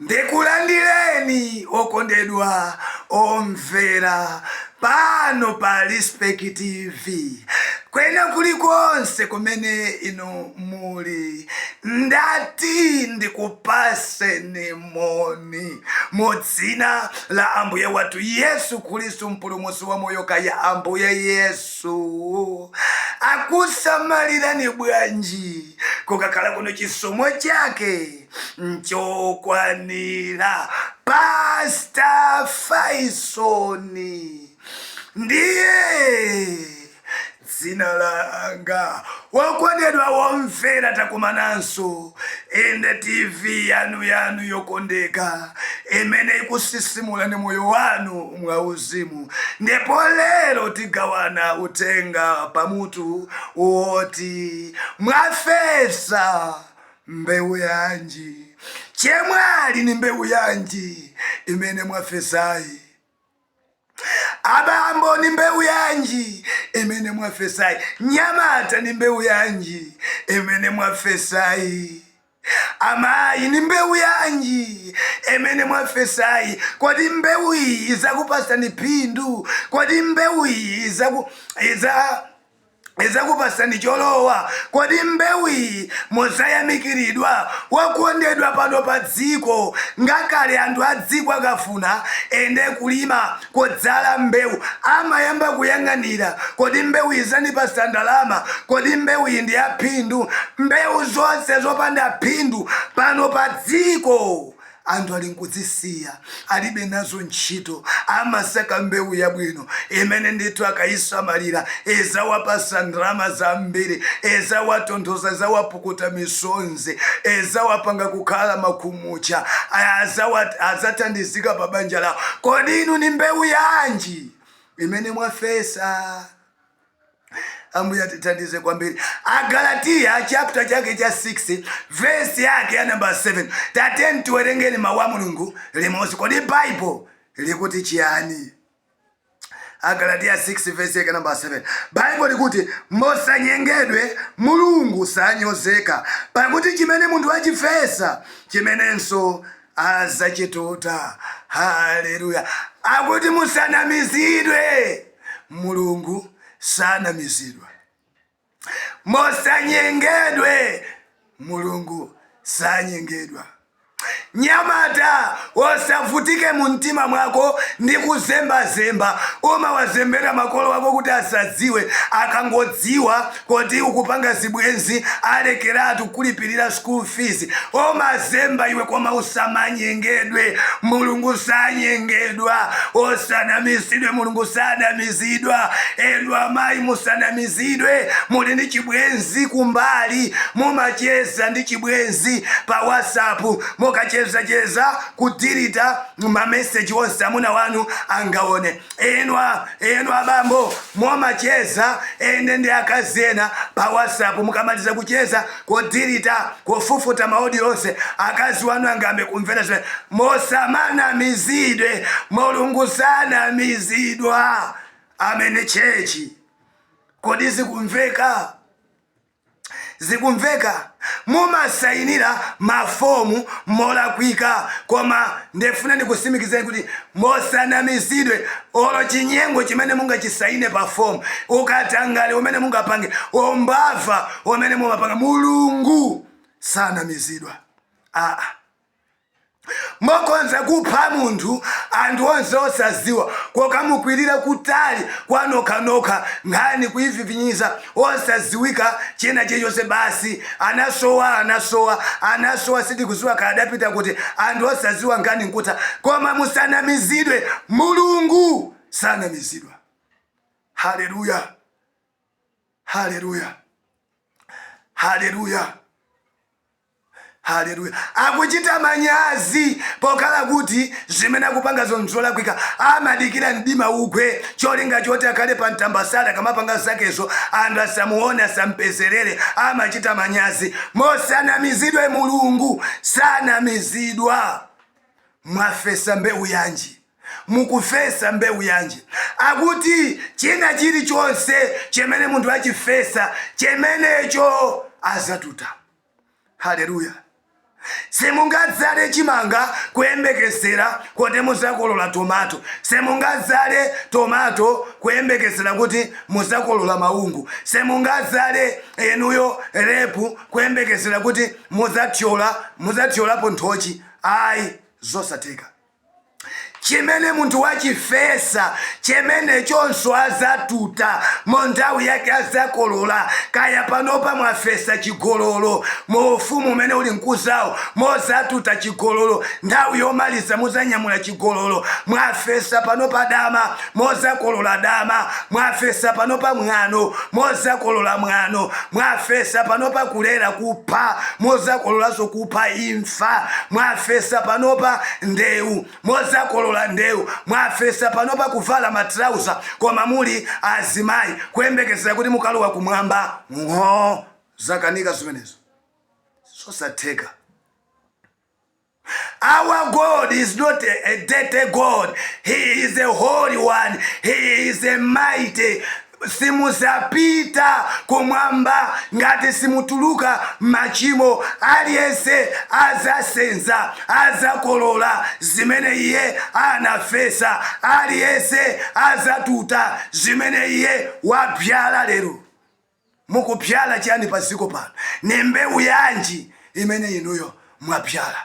ndikulandireni okondedwa omvera pano pa respect tv kwina kulikonse kumene inu muli? Ndati ndikupatseni moni mu Dzina la Ambuye wathu Yesu Khristu, Mpulumutsi wa moyo. Kaya Ambuye Yesu akusamalirani bwanji, kukakhala kuno, chisomo Chake nchokwanira. Pastor Faisoni. ndiye dzina langa wokondedwa womvera takumananso ende tv yanu yanu yokondeka imene ikusisimula ni moyo wanu mwauzimu ndipo lero tigawana uthenga pamutu woti mwafesa mbewu yanji chemwali ni mbewu yanji imene mwafesayi Abambo, ni mbewu yanji imene mwafesayi? Nyamata, ni mbewu yanji imene mwafesayi? Amayi, ni mbewu yanji imene mwafesayi? Kodi mbewu iyi izakupasani phindu? Kodi mbewu iyi izaku iza izakupasani cholowa. Kodi mbewu iyi muzayamikiridwa? Wokondedwa pano pa dziko, ngakale anthu a dziko akafuna ende kulima, kudzala mbewu, amayamba kuyang'anira, kodi mbewu iyi izandipasa ndalama? Kodi mbewu iyi ndi ya phindu? Mbewu zonse zopanda phindu pano pa dziko. Anthu ali nkudzisiya, alibe nazo ntchito, amasaka mbewu yabwino imene ndithu akayisamalira izawapasa ndalama zambiri, izawatonthoza, izawapukuta misonzi, izawapanga kukhala makhumutcha, adzathandizika pa banja lawo. Kodi inu ni mbewu yanji imene mwafesa? ambuye atithandize kwambiri agalatiya chapter chake cha 6 vesi yake ya namba 7 tateni tiwerengeni mawu a mulungu limodzi kodi baibulo likuti chiyani agalatiya 6 vesi yake namba 7 baibulo likuti musanyengedwe mulungu sanyozeka pakuti chimene munthu achifesa chimenenso azachituta haleluya akuti musanamizidwe Mulungu sanamizidwa. Musanyengedwe, Mulungu sanyengedwa. Nyamata, osavutike mu mtima mwako ndi kuzembazemba. Umawazembera makolo wako kuti asadziwe, akangodziwa kuti ukupanga zibwenzi alekeratu kulipirira school fees umazemba iwe koma usamanyengedwe mulungu sanyengedwa usanamizidwe mulungu sanamizidwa inu amayi musanamizidwe muli ndi chibwenzi kumbali mumacheza ndi chibwenzi pa whatsapp mukachezacheza kudilita ma message onse amuna wanu angaone inwa inu abambo mumacheza ende ndi akazi ena pa whatsapp mukamaliza kucheza kudilita kufufuta ma audio onse akazi wanu angambe kumvera zimene musamanamizidwe mulungu sanamizidwa amen tchetchi kodi zikumveka Zikumveka mumasayinira ma form molakwika koma ndifuna ndikutsimikizireni kuti musanamizidwe olo chinyengo chimene mungachisayine pa form, ukatangale umene mungapange, umbava umene mumapanga Mulungu sanamizidwa aa. Mukhoza kupha munthu anthu onse osaziwa kukamukwirira kutali kwanokhanokha nkhani kuyivivinyiza osaziwika china chilichonse basi anasowa anasowa anasowa sitikuziwa kaya adapita kuti anthu osaziwa nkhani nkutha koma musanamizidwe mulungu sanamizidwa hallelujah hallelujah hallelujah. Haleluya. Akuchita manyazi pokhala kuti zimene akupangazo nzolakwika. Amadikira mdima ugwe cholinga choti akhale pa mtambasala akamapanga zakezo anthu asamuone asampezerere amachita manyazi. Musanamizidwe Mulungu sanamizidwa. Mwafesa mbewu yanji? Mukufesa mbewu yanji? Akuti china chilichonse chimene munthu achifesa chimenecho adzatuta. Haleluya! Simungadzale chimanga kuyembekezera kuti muzakolola tomato. Simungadzale tomato kuyembekezera kuti muzakolola maungu. Simungadzale inuyo lepu kuyembekezera kuti muzathyola muzathyolapo nthochi. Ayi, zosatheka. Chimene munthu wachifesa, chimenechonso azatuta, mu nthawi yake azakolola, kaya panopa mwafesa chigololo, mu ufumu umene uli nkuzawo muzatuta chigololo, nthawi yomaliza muzanyamula chigololo, mwafesa panopa dama, muzakolola dama, mwafesa panopa mwano, muzakolola mwano, mwafesa panopa kulera, kupha, muzakololanso kupha, imfa. imfa mwafesa panopa ndewu muzakolola ndewu mwafesa panopa kuvala matrauza koma muli azimayi kuyembekezera kuti mukalowa kumwamba ng'oo zakanika zimenezo zosatheka Our God is not a, a dirty God. He is a holy one. He is a mighty simuzapita kumwamba ngati simutuluka m'machimo, aliyense azasenza, azakolola zimene iye anafesa, aliyense azatuta zimene iye wabyala lero. Mukubyala chiyani pa dziko pano? Ni mbewu yanji imene inuyo mwabyala?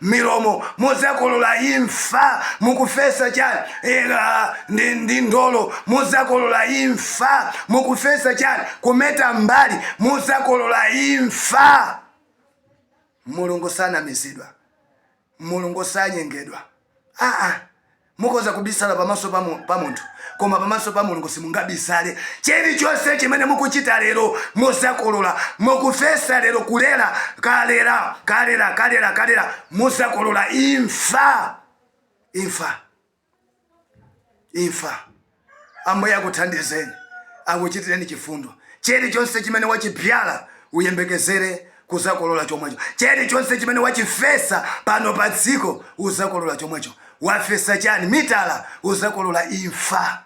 milomo muzakolola imfa mukufesa chani ndi ndolo muzakolola imfa mukufesa chani kumeta mbali muzakolola imfa mulungu sanamizidwa mulungu sanyengedwa. Mukoza kubisala pamaso pa mu- pa munthu koma pamaso pa mulungu simungabisale chilichonse chimene mukuchita lero muzakolola mukufesa lero kulera kalera kalera kalera kalera muzakolola imfa imfa imfa Ambuye akuthandizeni, akuchitireni chifundo. Chilichonse chimene wachibyala uyembekezere kuzakolola chomwecho. Chilichonse chimene wachifesa pano pa dziko uzakolola chomwecho. Wafesa chani? Mitala uzakolola imfa.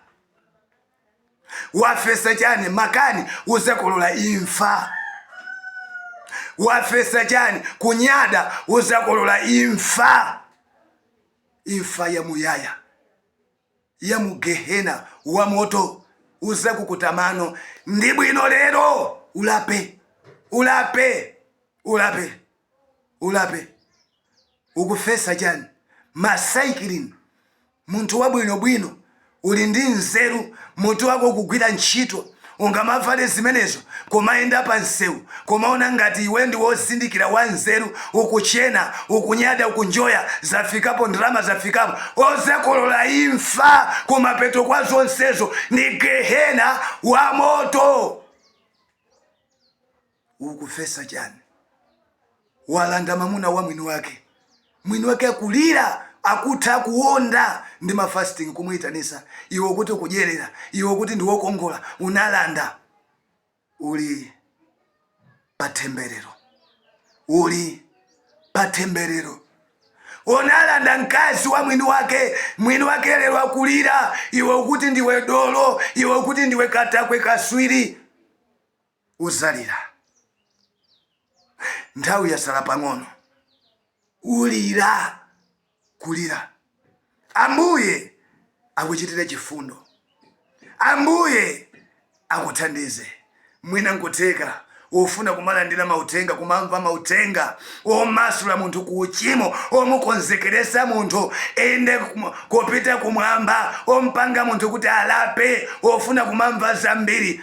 Wafesa chani? Makani uzakolola imfa. Wafesa chani? Kunyada uzakolola imfa, imfa yamuyaya. ya mu gehena wa moto uzakukuta mano ndi bwino lero ulape ulape ulape ulape ukufesa chani masaikilini munthu wabwinobwino uli ndi nzeru mutu wako ukugwira ntchito Ungamavale zimenezo kumayenda pa msewu kumaona ngati iwe ndi wozindikira wa nzeru ukuchena ukunyada ukunjoya zafikapo ndalama zafikapo uzakolola imfa kumapeto kwa zonsezo ni gehena wa moto. Ukufesa chani? Walanda mamuna wa mwini wake. Mwini wake akulira, akutha kuwonda ndi ma fasting kumuitanisa iwe ukuti ukudyelera, iwe ukuti ndiwe wokongola, unalanda. Uli pa themberero. Uli pa themberero. Unalanda mkazi wa mwini wake. Mwini wake lero akulira, iwe ukuti ndiwe dolo, iwe ukuti ndiwe katakwe, kaswiri. uzalira nthawi yasala pang'ono ulira kulira ambuye akuchitire chifundo ambuye akuthandize mwina nkutheka ukufuna kumalandira mauthenga kumamva mauthenga womasula munthu ku uchimo womukonzekeresa munthu ende kupita kumwamba wompanga munthu kuti alape wofuna kumamva zambiri